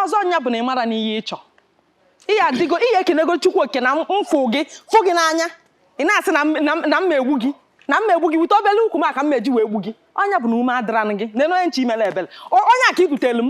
ọzọ nya bụ na ị mara n'ihe ị chọ ihe adịgo ihe ekenego chukwu oke na mfụ gị fụ gị n'anya ị na-asị na mma egbu gị na mma egbu gị wute obele ukwu m aka mma eji wee egbu gị ọnya bụ na ume adịranụ gị na onye nche imere ebele onye aka ibutelu m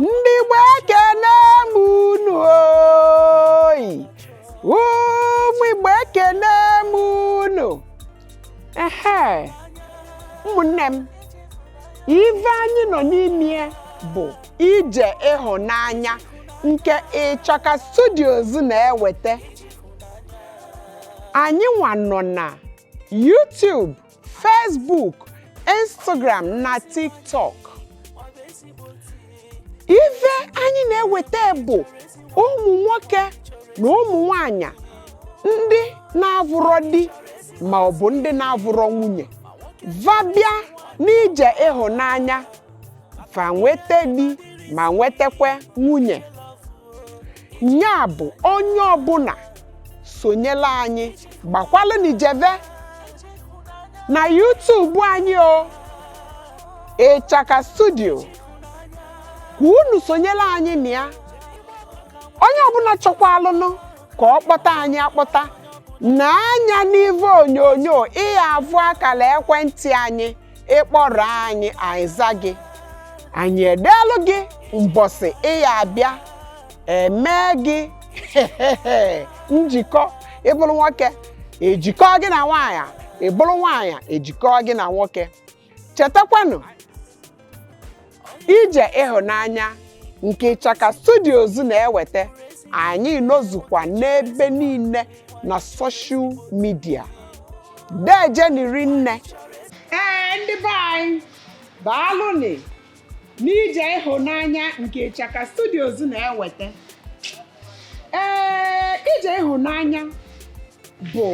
ndị Igbo ekene m unu oyi ụmụ Igbo ekene m unu ehe ụmụnne m ife anyị nọ n'ime bụ ije ịhụnanya nke Ịchaka Studios na-eweta anyị nwa nọ na YouTube Facebook Instagram na TikTok ife anyị na-eweta bụ ụmụ nwoke na ụmụ nwanyị ndị na-avụrọ di ma ọ bụ ndị na-avụrọ nwunye va bịa n'ije ịhụnanya va nweta di ma nwetakwa nwunye nya bụ onye ọbụna sonyela anyị gbakwalụnị jeve na YouTube anyị o Ịchaka Studio ka unu sonyela anyị na ya onye ọbụna chọkwaalụnụ ka ọ kpọta anyị akpọta na anya n'ive onyonyo ị ya-avụ akala ekwentị anyị ị kpọrọ anyị anyị za gị anyị edeelụ gị mbọsị ị ya-abịa emee gị njikọ ị bụlụ nwoke e jikọ gị na nwaanyị ị bụlụ nwaanyị e jikọ gị na nwoke chetakwanụ ije ịhụnanya nke Ịchaka Studios na-eweta anyị nọzukwa n'ebe niile na soshal midia deejenị rinne ee ndị be anyị baalụnị n'ije ịhụnanya nke Ịchaka Studios na-eweta ee ije ịhụnanya bụ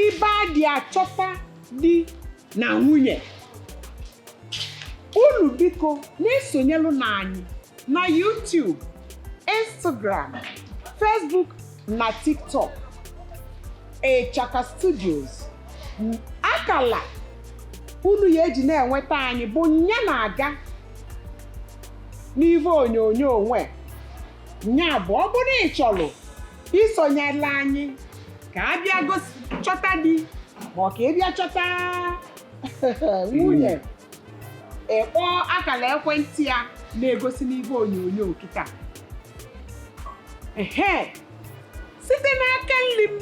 ibe a dị achọta di na nwunye unu biko na-esonyelụnụ anyị na YouTube Instagram Facebook na TikTok Ịchaka Studios akala unu ya-eji na-enweta anyị bụ nya na-aga n'ive onyonyo onwe nya bụ ọ bụrụ ị chọrọ isonyela anyị ka a bịa gosi chọta di ma ọ ka ị bịa chọta nwunye ị kpọọ akara ekwentị a na-egosi n'igbe onyonyo kịta ehe site n'aka nri m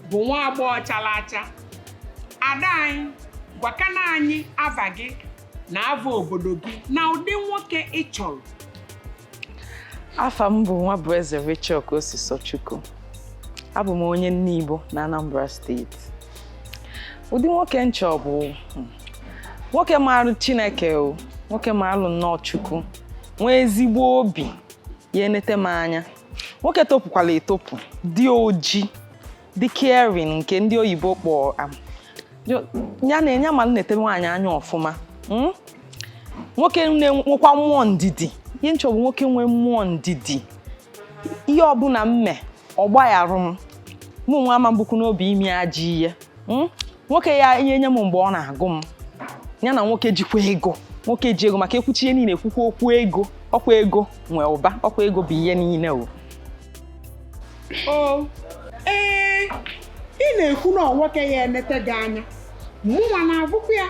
bụ nwa agbọghọ chara acha ada anyị gwakana anyị ava gị na ava obodo gị na ụdị nwoke ị chọrọ afa m bụ Nwabueze Rachel Kosisochukwu abụ m onye Nibo na Anambra steeti ụdị nwoke m chọ bụ hmm, nwoke marụ Chineke o nwoke marụ nnọọ Chukwu nwee ezigbo obi ya-enete m anya nwoke topụkwala etopụ dị oji dị caring nke ndị oyibo kpọọ am. Yo- ya na ya ma na-enete nwaanyị anya ọfụma mm? nwoke na-enwekwa mmụọ ndidi ihe m chọ bụ nwoke nwee mmụọ ndidi ihe ọbụla m mee ọ gbagharụ m mụ nwa ama m bukwu n'obi ime ajọ ihe mm? nwoke ya-enye m mgbe ọ na-agụ m ya na nwoke jikwa ego nwoke ji ego maka e kwuchaa ihe niile e kwukwaa okwu ego ọkwa ego nwe ụba ọkwa ego bụ ihe niile o o ee ị na-ekwu na ọ nwoke ya-enete gị anya mụnwa na-agụkwa ya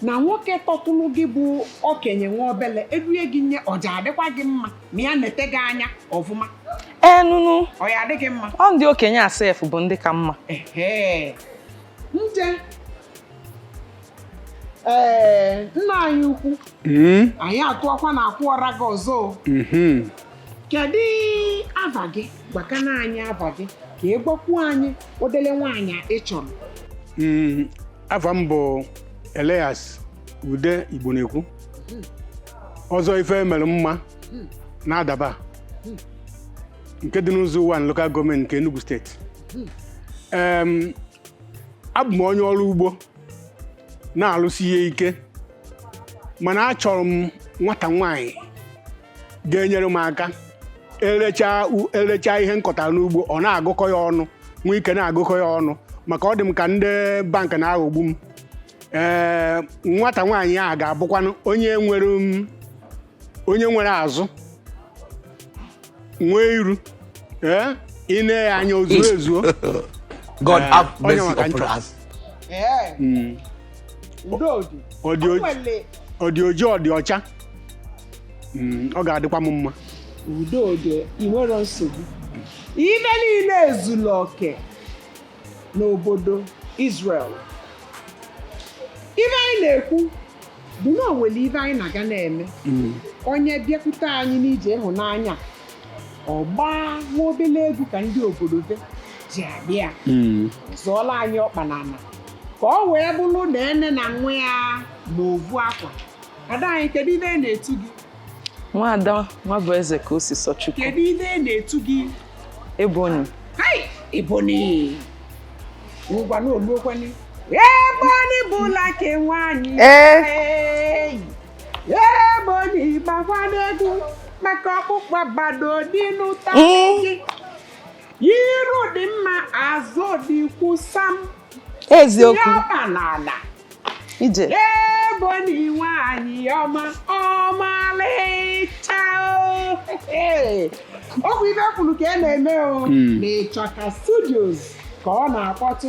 na nwoke tọtụrụ gị bụ okenye nwa obele e due gị nye ọ ja-adịkwa gị mma ma ya nete gị anya ọfụma enunu ọ ya-adị gị mma ọ ndị okenye sef bụ ndị ka mma ee nna anyị ukwu hmm? anyị atụọkwa na akwụ ọra gị ọzọ hmm. kedu ava gị gwakana anyị ava gị ka ị gwakwuo anyị ụdịlị nwaanyị ị chọrọ hmm. afa m bụ Elias Ude Igbonekwu ọzọ ife e mere mma na Adaba nke dị n'Ụzọ Ụwanị lokal gọọmenti nke Enugu steeti Em, abụ m onye ọrụ ugbo na-alụsi ihe ike mana achọrọ m nwata nwaanyị ga-enyere m aka erechaa u- erechaa ihe m kọtara n'ugbo ọ na-agụkọ ya ọnụ nwee ike na-agụkọ ya ọnụ maka ọ dị m ka ndị bank na-aghọgbu m ee nwata nwaanyị ahụ ga-abụkwanụ onye nwere m onye nwere azụ nwee iru ee ị nee ya anya o zuo ezuo God Eh, have onye mercy maka upon m chọ. us. Ee. Mm. Udo dị. Ọ dị O oji- nwere ọ dị oji ọ dị ọcha Mm, ọ ga-adịkwa m mma udo dị ị nwere nsogbu ive niile ezuru oke n'obodo Israel ive anyị na-ekwu bụ na o nwere ive anyị na-aga na-eme Mm, onye bịakwute anyị n'ije ịhụnanya ọ gbaa nwa obele egwu ka ndị obodo be ji abịa mm, zọọla anyị ọkpa n'ana ka ọ wee bụrụ na ene na nwa ya ma ovu akwa ada anyị kedu ive a na-etu gị nwaada Nwabụeze Kaosisọchukwu kedu ive a na-etu gị Ebony Ebony ngwa na oluokwani Ebony Black nwanyị Ebony gbakwa n'egwu maka ọkpụkpa bado dị n'ụta gị iru dị mma azụ dị kwusam eziokwu ọma na ala ije Ebony nwaanyị ọma ọmalịcha ọ bụ ive e kwuru ka e na-eme o hmm. na Ịchọka studios ka ọ na-akpọtụ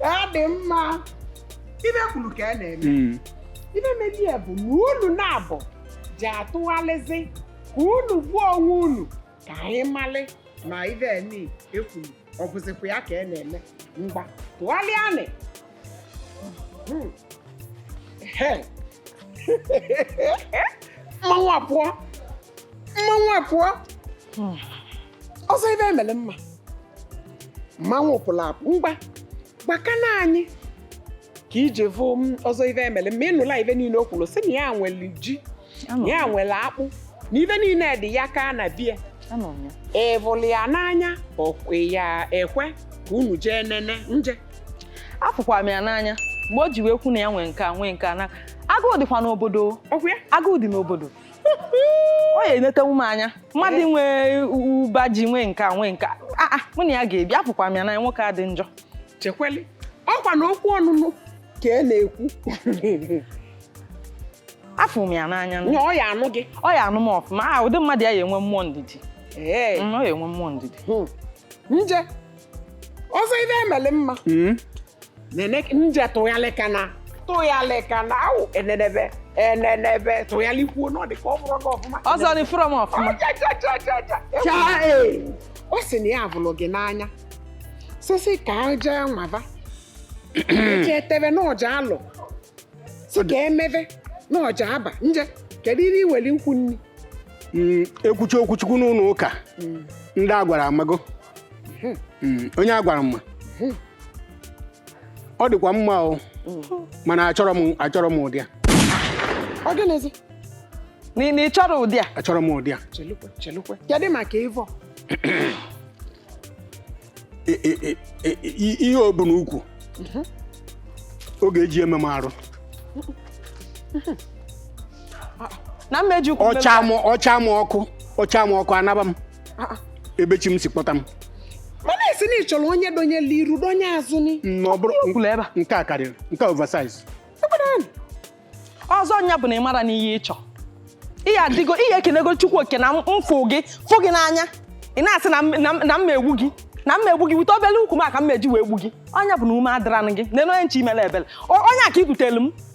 ọ dị mma ive e kwuru ka a na-eme Mm. ive meni ya bụ na unu naabọ ji atụgharịzi ka unu gbuo onwe unu ka anyị malị ma ive ni e kwuru ọ bụzikwa ya ka a na-eme ngwa tụgharịanị Hmm. He. mmanwụ apụọ mmanwụ apụọ ọzọ Ivemelumma mmanwụ pụrụ apụ ngwa gwakana anyị ka i ji vụ ọzọ Ivemelumma ị nụla ive niile o kwuru sị na ya nwere ji na ya nwere akpụ na ive niile dị ya ka na bie ị vụlụ ya n'anya ọkwe ya ekwe ka unu jee nene nje afụkwa m ya n'anya mgbe o ji wee kwu na ya nwee nke a nwee nke a na agụụ dịkwa n'obodo agụụ dị n'obodo ọ ya enetewu m anya mmadụ eh. nwee ụba ji nwee nke a nwee nke a ah, ah, mụ na ya ga-ebi afụkwa m ya na nwoke a dị njọ chekweli ọkwa na okwu ọnụnụ ka e na-ekwu afụ m ya n'anya ọ ya anụ gị ọ ya anụ m ọfụma ah, ụdị mmadụ ya ya enwe mmụọ ndidi eh. mm, ọ ya enwe mmụọ ndidi hmm. nje ọzọ Ivemelumma hmm? nene nje tụghalịkana tụghalịkana awụ enenebe enenebe tụghalịkwuo na ọ dị ka ọ vụrụ gị ọfụma ọzọ dị fụrụ m ọfụma ọ sị na ya vụlụ gị n'anya sisi ka aja nwava eji eteve na ọ ja-alụ sị ka e meve na ọ ja-aba nje kedu ihe i nweli ikwu ni hmm, ekwuchi okwu Chukwu n'ụlọ ụka hmm. ndị a gwara amago hmm, onye a gwara mma hmm. ọ dịkwa mma o hmm. mana achọrọ m achọrọ m ụdị a ọ gịnịzi na ị chọrọ ụdị a achọrọ m ụdị a chelukwe chelukwe kedụ maka ịvọ ihe o bu n'ukwu mhm. ọ ga-eji eme m arụ na mmejukwu ọcha m ọkụ ọcha m ọkụ anaba m Ah, ah. ebe chi m si kpọta m mana ị sị na ị chọrọ onye donyelu iru donye azụ ni na ọ bụrụ Kwula ebe a. nke a karịrị nke a oversize ọzọ nya bụ na ị mara na ihe ị chọ ihe adịgo i kenego chukwu oke na m fụ gị fụ gị n'anya ị na-asị na m- na m- na m egbu gị na m egbu gị wute obele ukwu m a ka m meji wee gbu gị ọ nya bụ na ume adịrọnụ gị nene onye nche imere ebere O- onye a ka i butere m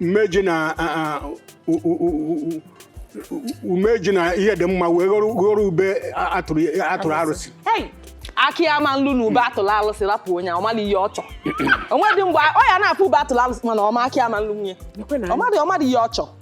mmeji na a- a- u- u- u- u- o meji na ihe dị mma wee ghọrọ ghọrọ ube a- atụrụ atụrụ arụsị Hey! aka ama nlu na ube atụlụ alụsị rapụ onye ahụ, ọ mara ihe ọ chọ o nwedị mgbe ọ ya na-afụ ube atụlụ alụsị mana ọ ma aka ama nlu nwunye ọ mara ọ mara ihe ọ chọ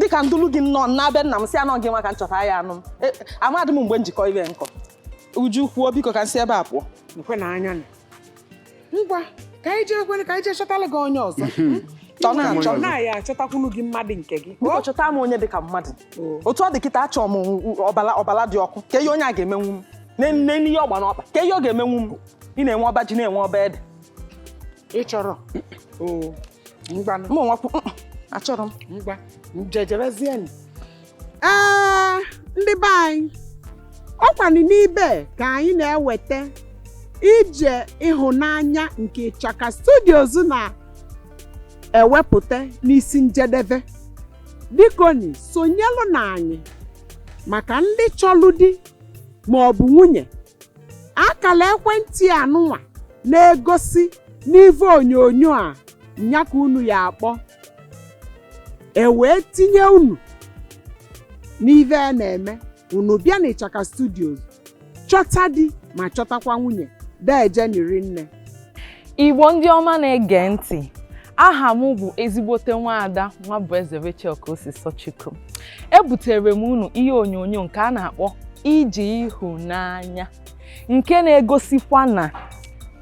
dịka m dulu gị nnọọ na-abịa nna m si anọ gị nwa ka m chọta ya anụ m e, amadị m mgbe njikọ ibe nkọ uju kwuo biko ka m si ebe a pụọ nkwe na anya ngwa ka anyị jee kwere ka anyị jee chọtala gị onye ọzọ chọ na achọ na ya achọtakwunu gị mmadụ nke gị biko chọta m onye dị ka mmadụ otu ọ dị kịta achọ m ọbala ọbala dị ọkụ kee ihe onye a ga-emenwu m nene ihe ọ gba n'ọkpa ka ihe ọ ga-emenwu m ị na-enwe ọba ji na-enwe ọba ede ị chọrọ oo ngwanụ mụ nwakwu mm, achọrọ m ngwa jejebezienụ ee ndị be anyị ọ kwanụ n'ibe ka anyị na-eweta ije ịhụnanya nke Ịchaka Studios na-ewepụta n'isi njedebe bikoni sonyelụnụ anyị maka ndị chọlụ di ma ọ bụ nwunye akala ekwentị anụnwa na-egosi n'ive onyonyo a nya ka unu ya-akpọ e wee tinye unu n'ive a na-eme unu bịa n'Ịchaka Studios chọta di ma chọtakwa nwunye deejeni rinne Igbo ndị ọma na-ege ntị aha m bụ ezigbote nwaada Nwabụeze Rachel Kosisochukwu ebutere m unu ihe onyonyo nke a na-akpọ ije ịhụnanya nke na-egosikwa na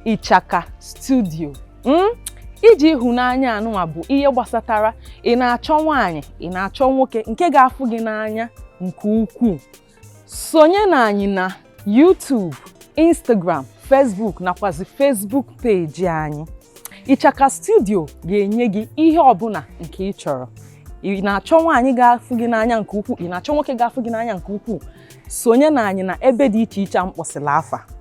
Ịchaka Studio hmm? ije ịhụnanya anụnwa bụ ihe gbasatara ị na-achọ nwaanyị ị na-achọ nwoke nke ga-afụ gị n'anya nke ukwuu sonye na anyị na YouTube Instagram Facebook nakwazi Facebook peji anyị Ịchaka studio ga-enye gị ihe ọbụla nke ị chọrọ ị na-achọ nwaanyị ga-afụ gị n'anya nke ukwuu ị na-achọ nwoke ga-afụ gị n'anya nke ukwuu sonye na anyị na ebe dị iche iche a m kpọsịla afa